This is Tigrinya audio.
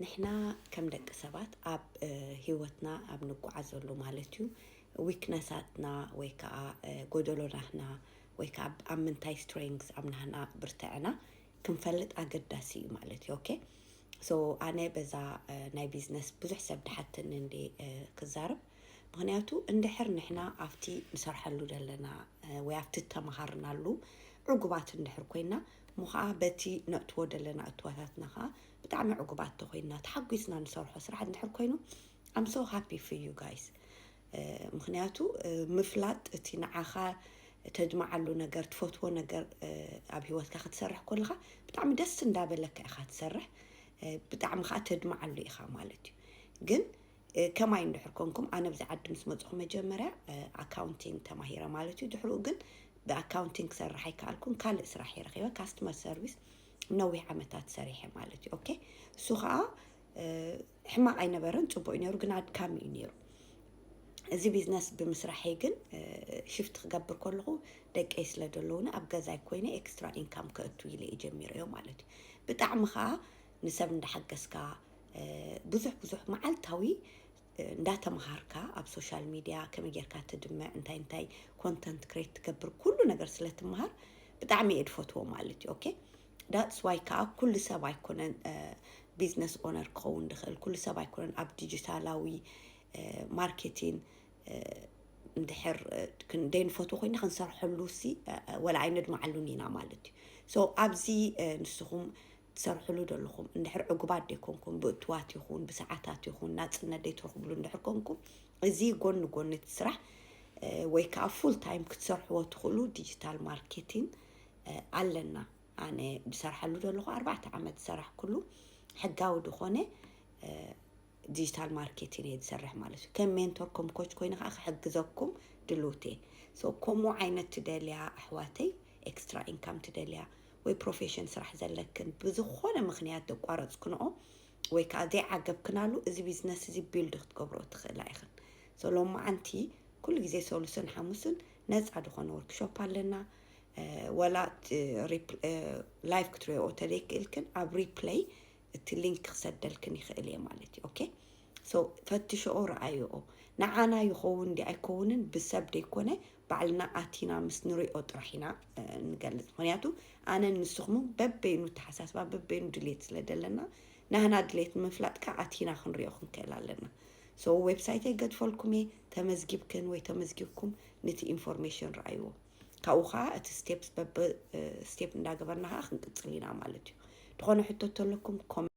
ንሕና ከም ደቂ ሰባት ኣብ ሂወትና ኣብ ንጓዓዘሉ ማለት እዩ ዊክነሳትና ወይ ከዓ ጎደሎ ናህና ወይ ከዓ ኣብ ምንታይ ስትሬንግስ ኣብ ናህና ብርትዕና ክንፈልጥ ኣገዳሲ እዩ ማለት እዩ ኦኬ ሶ ኣነ በዛ ናይ ቢዝነስ ብዙሕ ሰብ ድሓትኒ እንደ ክዛረብ ምክንያቱ እንድሕር ንሕና ኣብቲ ንሰርሐሉ ዘለና ወይ ኣብቲ ተምሃርናሉ ዕጉባት እንድሕር ኮይና እሞ ኸኣ በቲ ነእትዎ ደለና እትዋታትና ኸኣ ብጣዕሚ ዕጉባት ተኾይንና ተሓጒስና ንሰርሖ ስራሕ እንድሕር ኮይኑ I'm so happy for you guys ምኽንያቱ ምፍላጥ እቲ ንዓኻ ተድምዓሉ ነገር ትፈትዎ ነገር ኣብ ሂወትካ ክትሰርሕ ኮለኻ ብጣዕሚ ደስ እንዳበለካ ኢኻ ትሰርሕ ብጣዕሚ ከዓ ተድምዓሉ ኢኻ ማለት እዩ ግን ከማይ እንድሕር ኮንኩም ኣነ ብዚ ዓዲ ምስ መፅኹ መጀመርያ ኣካውንቲንግ ተማሂረ ማለት እዩ ድሕርኡ ግን ብኣካውንቲንግ ክሰርሕ ኣይከኣልኩን ካልእ ስራሕ እየ ረኺበ ካስተመር ሰርቪስ ነዊሕ ዓመታት ሰሪሐ ማለት እዩ ኦኬ እሱ ከዓ ሕማቕ ኣይነበረን ፅቡቅ እዩ ነሩ ግን ኣድካሚ እዩ ነሩ እዚ ቢዝነስ ብምስራሐይ ግን ሽፍት ክገብር ከለኹ ደቀይ ስለ ዘለውኒ ኣብ ገዛይ ኮይነ ኤክስትራ ኢንካም ከእቱ ኢለ እየ ጀሚረዮ ማለት እዩ ብጣዕሚ ከዓ ንሰብ እንዳሓገዝካ ብዙሕ ብዙሕ መዓልታዊ እንዳተምሃርካ ኣብ ሶሻል ሚድያ ከመይ ጌርካ ትድምዕ እንታይ እንታይ ኮንተንት ክሬት ትገብር ኩሉ ነገር ስለ ትምሃር ብጣዕሚ እየ ድፈትዎ ማለት እዩ ኦኬ ዳትስ ዋይ ከዓ ኩሉ ሰብ ኣይኮነን ቢዝነስ ኦነር ክኸውን ድኽእል ኩሉ ሰብ ኣይኮነን ኣብ ዲጂታላዊ ማርኬቲን እንድሕር ክንደይ ንፈትዎ ኮይና ክንሰርሐሉ ሲ ወላ ኣይነድማዓሉን ኢና ማለት እዩ ሶ ኣብዚ ንስኹም ትሰርሕሉ ደለኹም እንድሕር ዕጉባት ደይኮንኩም ብእትዋት ይኹን ብሰዓታት ይኹን ናፅነት ደይትረኽብሉ እንድሕር ኮንኩም እዚ ጎኒ ጎኒ እቲ ስራሕ ወይ ከዓ ፉል ታይም ክትሰርሕዎ ትኽእሉ ዲጂታል ማርኬቲንግ ኣለና ኣነ ዝሰርሓሉ ዘለኹ ኣርባዕተ ዓመት ዝሰራሕኩሉ ሕጋዊ ዝኾነ ዲጂታል ማርኬቲን እየ ዝሰርሕ ማለት እዩ ከም ሜንቶር ከም ኮች ኮይነ ከዓ ክሕግዘኩም ድልውት እየ ሶ ከምኡ ዓይነት ትደልያ ኣሕዋተይ ኤክስትራ ኢንካም ትደልያ ወይ ፕሮፌሽን ስራሕ ዘለክን ብዝኾነ ምክንያት ዘቋረፅክንኦ ወይ ከዓ ዘይዓገብክናሉ እዚ ቢዝነስ እዚ ቢልድ ክትገብሮ ትኽእላ ኢኽን ሶ ሎማዓንቲ ኩሉ ግዜ ሰሉስን ሓሙስን ነፃ ዝኾነ ወርክሾፕ ኣለና እ፣ ወላ ላይቭ ክትሪኦ ተደይክእልክን ኣብ ሪፕለይ እቲ ሊንክ ክሰደልክን ይኽእል እየ ማለት እዩ ኦኬ ሶ ፈትሸኦ ረኣየኦ ንዓና ይኸውን ዲ ኣይከውንን ብሰብ ደይኮነ ባዕልና ኣቲና ምስ ንሪኦ ጥራሕ ኢና ንገልፅ ምክንያቱ ኣነ ንስኹም በበይኑ ተሓሳስባ በበይኑ ድሌት ስለ ዘለና ናህና ድሌት ንምፍላጥ ከዓ ኣቲና ክንሪኦ ክንክእል ኣለና ሶ ዌብሳይተይ ገድፈልኩም እየ ተመዝጊብክን ወይ ተመዝጊብኩም ነቲ ኢንፎርሜሽን ረኣይዎ ካብኡ ከዓ እቲ ስቴፕ በብ ስቴፕ እንዳገበርና ከዓ ክንቅፅል ኢና ማለት እዩ። ዝኾነ ሕቶ ተለኩም ኮመ